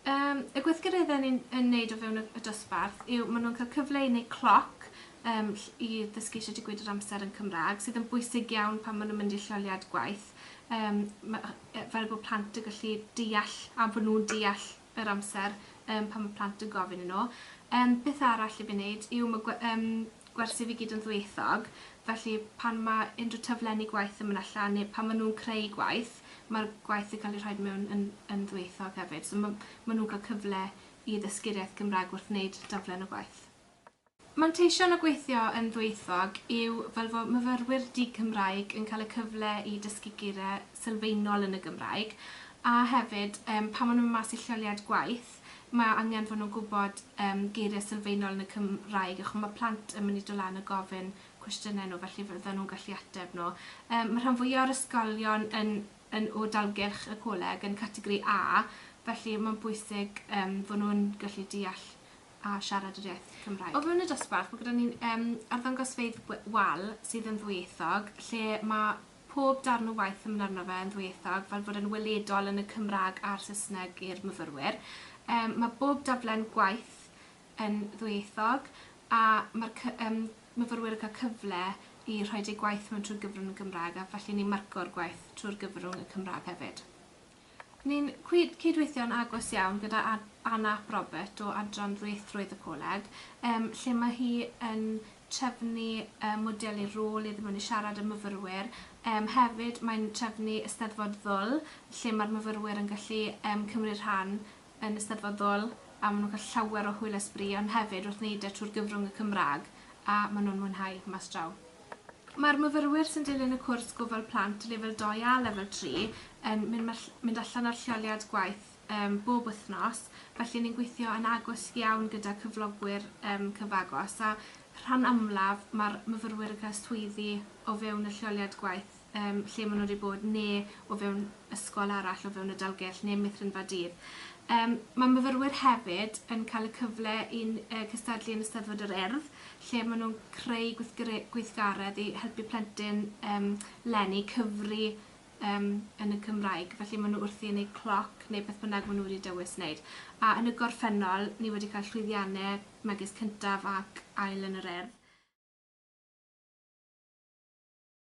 Yym y gweithgareddau ni'n yn neud o fewn y y dosbarth yw ma' nhw'n cael cyfle i neu' cloc yym ll- i ddysgu shwt i gweud yr amser yn Cymra'g sydd yn bwysig iawn pan ma' nhw'n mynd i'r lleoliad gwaith yym ma' yy fel bo' plant yn gallu deall a bo' nhw'n deall yr amser yym pan ma' plant yn gofyn i nhw. Yym beth arall i fi neud yw ma' gwe- yym gwersi fi gyd yn ddwyieithog felly pan ma' unrhyw taflenni gwaith yn myn' allan ne' pan ma' nhw'n creu gwaith ma'r gwaith yn ca'l ei rhoid mewn yn yn ddwyieithog hefyd so ma' ma' nhw'n ca'l cyfle i ddysgu'r iaith Gymraeg wrth wneud daflen y gwaith. Manteision o gweithio yn ddwyieithog yw fel fod myfyrwyr di-Gymraeg yn cael y cyfle i dysgu geiriau sylfaenol yn y Gymraeg, a hefyd yym pan maen nhw'n mynd mas i lleoliad gwaith, mae angen fod nhw'n gwybod yym geiriau sylfaenol yn y Cymraeg, a chimod mae plant yn mynd i dod lan a gofyn cwestiynau nhw, felly fyddan nhw'n gallu ateb nhw. Yym mae rhan fwya o'r ysgolion yn yn o dalgylch y coleg yn categori A, felly mae'n bwysig yym fod nhw'n gallu deall a siarad yr iaith Cymraeg. O fewn y dosbarth mae gyda ni'n yym arddangosfeydd we- wal sydd yn ddwyieithog lle ma' pob darn o waith yn myn' arno fe yn ddwyieithog fel bod e'n weledol yn y Cymrag a'r Sysneg i'r myfyrwyr. Yym ma' bob daflen gwaith yn ddwyieithog a ma'r cy- yym myfyrwyr yn ca'l cyfle i rhoid eu gwaith mewn trwy gyfrwng y Gymraeg a felly ni'n marco'r gwaith trwy'r gyfrwng y Cymrag hefyd. Ni'n cyd-weithio'n agos iawn gyda Anna ap Robert o Adran Ddwyieithrwydd y Coleg, lle mae hi yn trefnu modelu rôl iddyn nhw yn siarad â myfyrwyr. Hefyd, mae'n trefnu Eisteddfod Ddwl, lle mae'r myfyrwyr yn gallu cymryd rhan yn eisteddfodol a maen nhw'n cael llawer o hwyl a sbri ond hefyd wrth wneud e trwy'r gyfrwng y Cymraeg a maen nhw'n mwynhau mas draw. Mae'r myfyrwyr sy'n dilyn y cwrs Gofal Plant Lefel 2 a Lefel 3 yn mynd allan ar lleoliad gwaith bob wythnos felly ni'n gweithio yn agos iawn gyda cyflogwyr cyfagos a rhan amlaf mae'r myfyrwyr yn cael swyddi o fewn y lleoliad gwaith. yym lle ma' n'w 'di bod ne' o fewn ysgol arall o fewn y Dalgylch ne' Meithrinfa Dydd. Yym ma' myfyrwyr hefyd yn cael y cyfle i'n yy cystadlu yn Eisteddfod yr Urdd lle ma' nw'n creu gwithgre- gweithgaredd i helpu plentyn yym leni cyfri yym yn y Cymraeg felly ma' n'w wrthi yn eu cloc ne' beth bynnag ma' n'w wedi dewis neud. A yn y gorffennol ni wedi cael llwyddianne megis cyntaf ac ail yn yr Urdd.